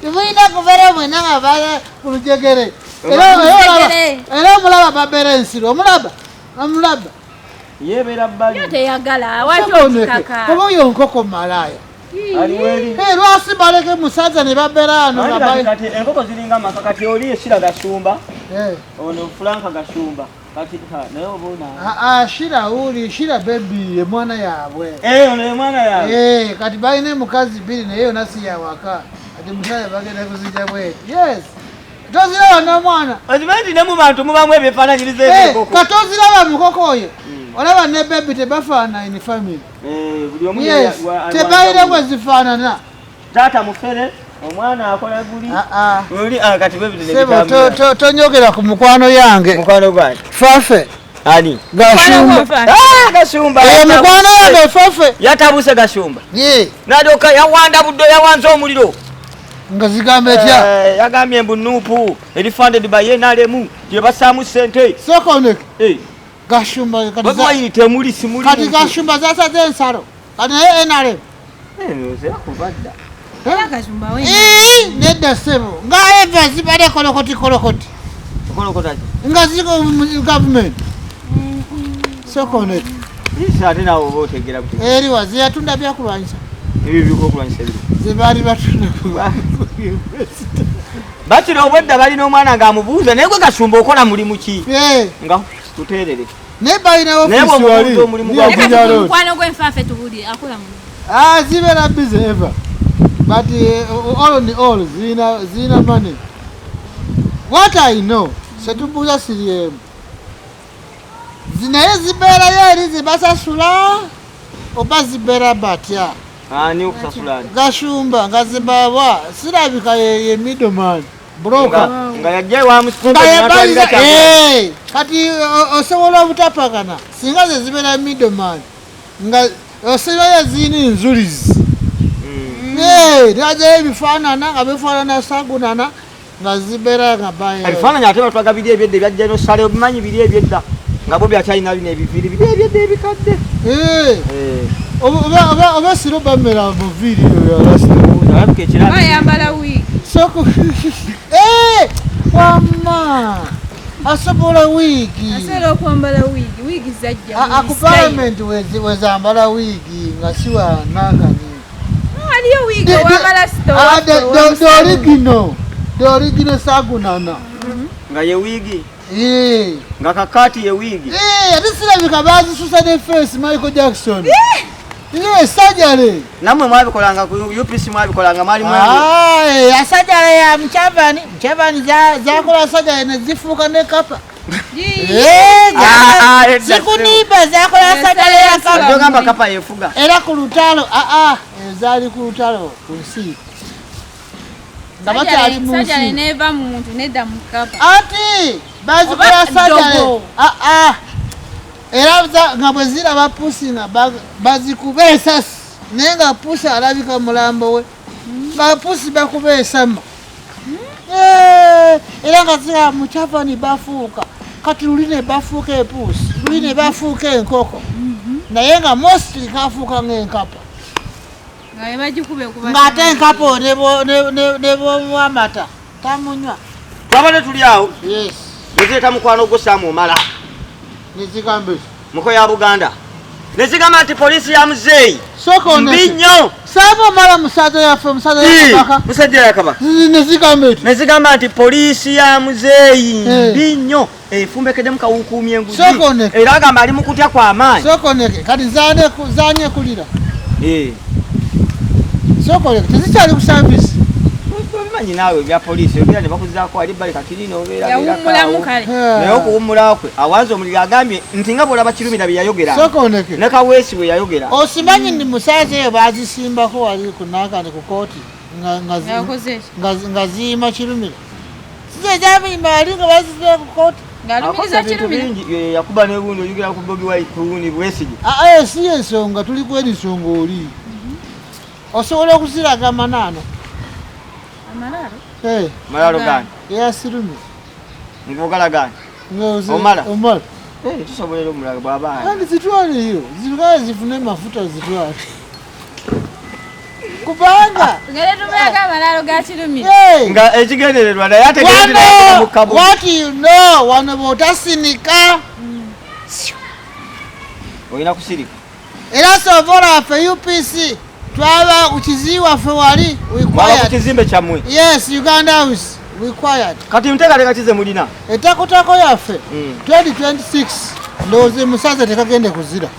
tebulina kubeera mwena nga bala ku lujegere era omulaba babeera ensiru omulaba omulaba yebeera baliteyagala wakyokikaka oba oyo nkoko malaaya lwasi baleke musaza ne babeeraanoenkoko ziringa amakakati oli esira gasumba eh. ono fulanka gasumba ashira ah, ah, uli shira bebi emwana yabwe eh, ono emwana yabwe eh, kati balina emukazi bbiri naye yona siyawaka kati musale bagenda kuzija bwetu yes toziraba nomwana okimanyi nti ne mu bantu mubamu ebyefaananyiriza eh, ka toziraba mukoko oyo hmm. olaba ne bebi tebafaana in family tebalina bwezifaanana Taata mufere omwana akola guli ah, ah. oli ah, kati bwe bidde sebo to to to nyogera ku mukwano yange mukwano gwange fafe ani gashumba ah gashumba e mukwano yange fafe yatabuse gashumba ye nadoka yawanda buddo yawanza omuliro nga zigamba etya eh, yagambye mbu nupu eri funded by enalemu gye basaamu sente sokonek eh. gashumba kati gashumba zasaze ensalo kati naye enalemu nedda sebo nga eva zibade kolokoti kolokoti nga ziri gavumenti sokoneti eri wazi yatunda byakulwanyisa zebaali batunda bakira obwedda balina omwana ng'amubuuza naye gwe gasumba okola mulimu ki nga tuteerere Naye balina ofiisi wali nyakunya road. Mukwano gwe nfaafe tubulire akola mu. Ah zibeera busy ever but uh, all in all zirina zirina money. What I know setubuuza siri emu zinaye zibeerayo eri zibasasula oba zibeera batya gashumba nga zibawa sirabika ye middleman buloka nga yajja wamusinga yebaliza eh, kati osobola obutapakana singa ze zibeera middleman nga osirayo ziina enzulizi mm. eh, najayo ebifaanana nga bifaanana sagunana nga zibeera nga baebifaananyi ate batwaga biri ebyedda ebyajja nosala obimanyi biri ebyedda nga bobi akyalina bino ebiviri biri ebyedda ebikadde eh. oba siro bamera muviiri yoyoayambala wiigi eh, wama asobola wiigi asobola okwambala wiigi wiigi zajja aku palamenti wezambala wiigi nga siwa nakani waliyo wiigi owambala sitoorigino dorigino sagunana nga ye wiigi nga kakaati ye wiigi ate sirabika baazisusa ne face michael jackson ye sajale namwe mwabikolanga ku upc mwabikolanga mwali ah, asajale ya mchavani mchavani zakola sajale nezifuuka ne kapa ah, ah, sikuniba zakola sajale ya kapa era ku lutalo ezaali ku lutalo ku nsi nga bakyali mu nsi ati bazikola sajale ah, ah. era nga bwe ziraba pusi nga bazikuba esasi naye nga pusi alabika mulambo we nga pusi bakuba esama era nga ziraba mukyavani bafuuka kati luli ne bafuuka epuusi luli ne bafuuka enkoko mm-hmm. naye nga mostri kafuuka ngaenkapa ng'ate enkapo nebwamata tamunywa twabadde tuli awo nezireeta mukwano gwo saamu omala muko ya buganda nezigamba nti poliisi ya muzeeyi mbi nnyo musajja yakaba nezigamba nti poliisi ya muzeeyi mbi nnyo efumbekedemu kawukuumya enguzi era agamba ali mu kutya kwa maanyi sokoneke kati zanye kulira eh. sokoneke tezikyali ku savisi obimanyi naawe ebya poliisi obeera ne bakuzaako ali bali kakirina obeeranaye okuwummulawo kwe awanza omuliro agambye nti nga bwolaba kirumira bye yayogera ne kaweesi bwe yayogera osimanyi ni musaaza eyo bazisimbako wali kunakane ku kooti nga ziima kirumira Size jabi mali nga bazize ku court. Akoze bintu bingi eh, yakuba n'ebundi oyogera ku Bobi Wine kuwuni bwesige. Ah, ah eh, si ensonga tuli kweri nsonga oli. Mhm. Osobola okuziraga amanano. Amalaro? Eh. Malaro gani? Yasirumi. Ngogala gani? Ngozi. Omala. Omala. Eh, tusobolera omulaga bwaba. Kandi zitwale hiyo. Zikazi zifune mafuta zitwale. kubanga nga ekigendererwa naye ategeemukabuwatino wano bwotasinika mm. olina kusirika era sovora waffe upc twaba kukizi waffe wali kukizimbe kyamwe yes uganda house required kati nteekateeka kize mulina etakutako yaffe 2026 mm. ndowooza musaza tekagende kuzira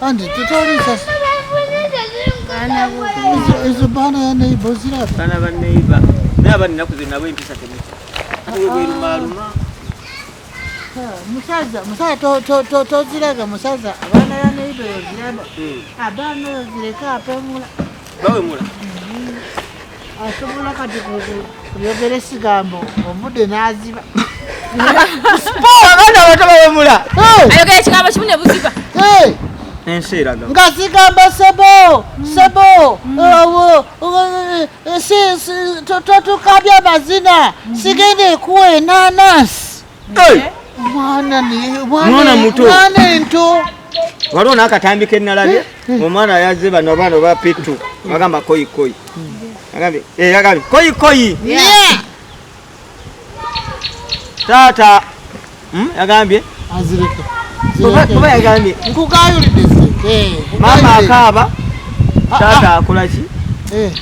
Andy, tu te orisas. Izo bana ya neighbor zira. Bana ba neighbor. Ne abani nakuze nabo empisa temiti. Awe bweru maluma. Musaza, musaza to to to to ziraga musaza. Bana ya neighbor ziraba. Abana zireka apemula. bawemula asobola kati kuyogera esigambo omude naziba abaana abato bawemula ayogera ekigambo kimu ne buziba nga sigamba sebo sebo totukabya mazina sigenda ekuwa enanasi mwana muto waliwo n'akatambi ke nnalabye eh, eh. omwana yazze bano abaana oba pittu agamba koyikoyi agambye eh, koyikoyi taata hmm, yagambye oba yagambye maama akaaba ah, ah. taata akolaki